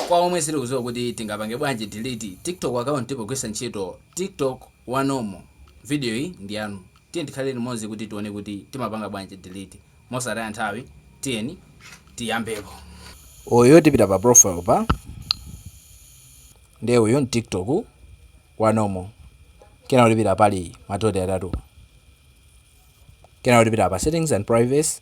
Kwa omwe sitikuziwa kuti tingapange bwanji delete tiktok account pogwisa ntchito tiktok wa normal, video yi ndiyanu tiyeni tikhale limodzi kuti tione kuti timapanga bwanji delete. Mosataya nthawi tiyeni tiyambepo. Uyu tipita pa profile apa nde uyu ndi tiktok wa normal kenako tipita pali madoti atatu kenako tipita pa settings and privacy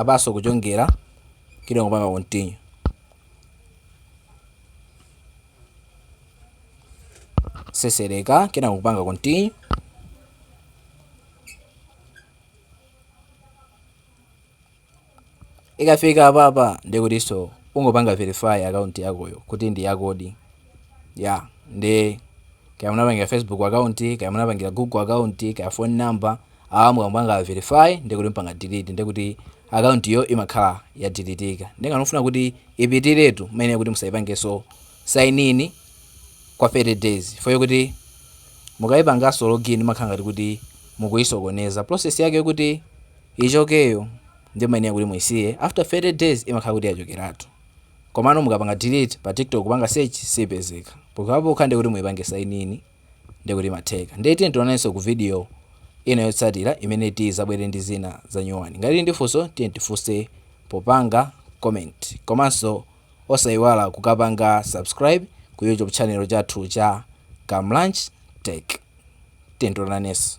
apaso kuchongera kena kupanga continue sesereka kena kupanga continue ikafika apapa ndikutiso ungopanga verify account yakoyo kuti ndi yakodi ya nde kaya munapangira facebook account kaya munapangira google account kaya phone number awa mukapanga verify ndekuti mpanga delete ndekuti account yo imakhala yadilitika nde ngati mufuna kuti ipitiretu mayenera kuti musaipangeso sign in kwa 30 days foyo kuti mukayipangaso login makhala ngati kuti mukuyisokoneza process yake yokuti ichokeyo nde mayenera kuti muisiye after 30 days imakhala kuti yachokeratu Komano mukapanga delete pa TikTok kupanga search sipezeka. Pokhapokha ndi kuti muipange sign in ndi kuti imatheka. Ndiye tiyeni tionanenso ku video ina yotsatira imene tizabwere ndi zina zanyuwani. Ngati tili ndi funso tiyeni tifunse popanga comment. Komanso osaiwala kukapanga subscribe ku YouTube channel chathu cha Kamlanj Tech. Tiyeni tionanenso.